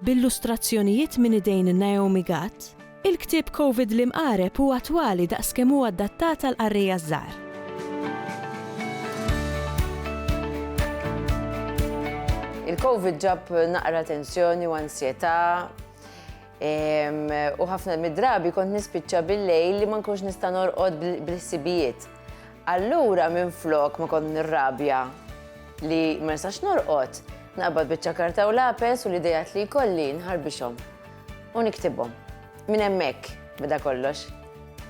B'illustrazzjonijiet minn idejn Naomi Gatt, il-ktieb Covid l-Imqareb hu attwali daqs kemm hu adattat għal qarrejja żgħar. Il-Covid ġab naqra tensjoni u ansjetà u ħafna mid-drabi kont nispiċċa bil-lejl li ma nkunx nista' norqod bl-ħsibijiet. Allura minflok ma kont nirrabja li ma nistax norqod, naqbad biċċa karta u lapes u l-ideat li jkolli nħarbixhom u niktibhom. Minn hemmhekk beda kollox.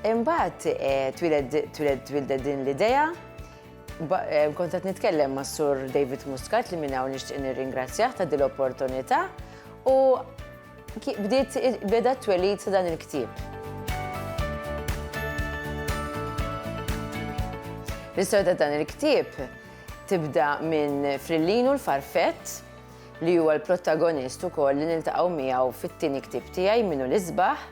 Imbagħad eh, twildet din l-idea Eh, kont qed nitkellem ma' Sur David Muscat li minn hawn nixtieq nirringrazzjah ta' din l-opportunità u Bdiet beda t-twelid ta' dan il-ktieb. L-istorja ta' dan il-ktieb tibda minn Frillinu l-Farfett li huwa l-protagonist ukoll li niltaqgħu miegħu fit-tieni ktieb tiegħi minnu l-isbaħ.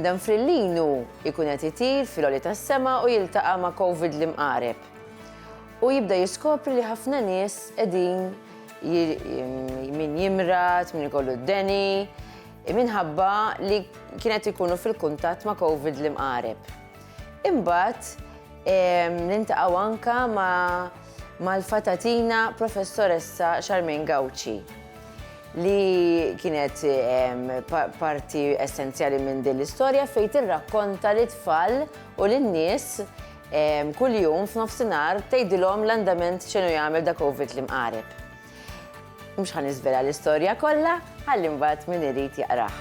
Dan Frillinu jkun qed itir fil-oli tas-sema u jiltaqa' ma' Covid li mqareb. U jibda jiskopri li ħafna nies qegħdin min jimrad, min ikollu d-deni, minħabba li kienet ikunu fil-kuntatt ma' Covid li mqareb. Imbagħad nintaqgħu anka mal-fatatina Professoressa Charmaine Gauci li kienet parti essenzjali minn din l-istorja fejn tirrakkonta lit-tfal u lin-nies Kuljum f'nofsinhar tgħidilhom l-andament x'inhu jagħmel da Covid li mqareb. Mhux ħa niżvela l-istorja kollha, ħalli mbagħad min irid jaqrah.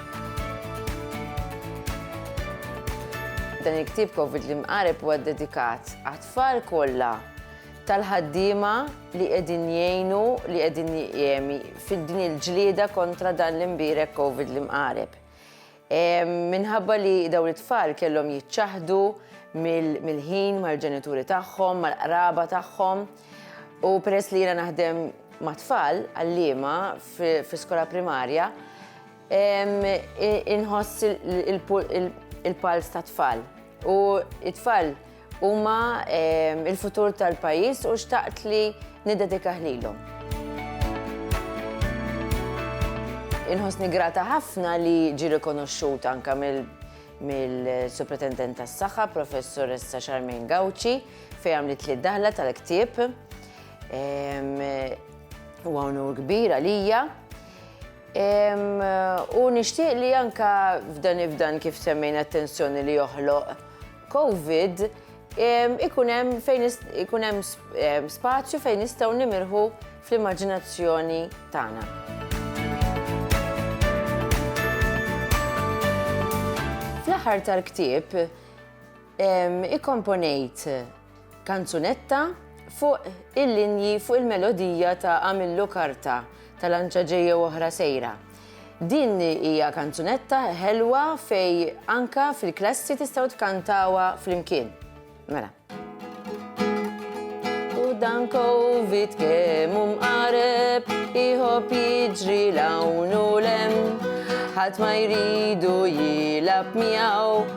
Dan il-ktieb Covid li mqareb huwa ddedikat għat-tfal kollha tal-ħaddiema li qegħdin jgħinu li qegħdin fid-din il-ġlieda kontra dan l-imbierek Covid li mqareb. Minħabba li dawn it-tfal kellhom jiċċaħdu mill-ħin mal-ġenituri tagħhom, mal-qraba tagħhom, u peress li jiena naħdem ma' tfal għalliema fi skola primarja, inħoss il-pals ta' tfal. U it-tfal Huma il-futur tal-pajjiż u xtaqt li niddedikah lilhom. Inħossni grata ħafna li ġi rikonoxxut anka mill-Supretendent tas-Saħħa, Professoressa Charmaine Gauci, fejn għamlet li daħla tal-ktieb. U għonur kbir għalija. U nixtieq li anka f'dan ifdan kif semmejna attenzjoni li joħloq Covid ikun hemm fejn ikun hemm spazju fejn nistgħu nimirħu fl-immaġinazzjoni tagħna. Fl-aħħar tal-ktieb ikkomponejt Kanzunetta fuq il-linji fuq il-melodija ta' Għamillu Karta ta' Lanċa Ġejja u Oħra Sejra. Din hija kanzunetta ħelwa fejn anke fil-klassi tistgħu tkantawha flimkien. Mela. U dan covid kemm hu mqareb, iħobb jiġri l-hawn u l-hemm, ħadd ma jridu jilgħab miegħu.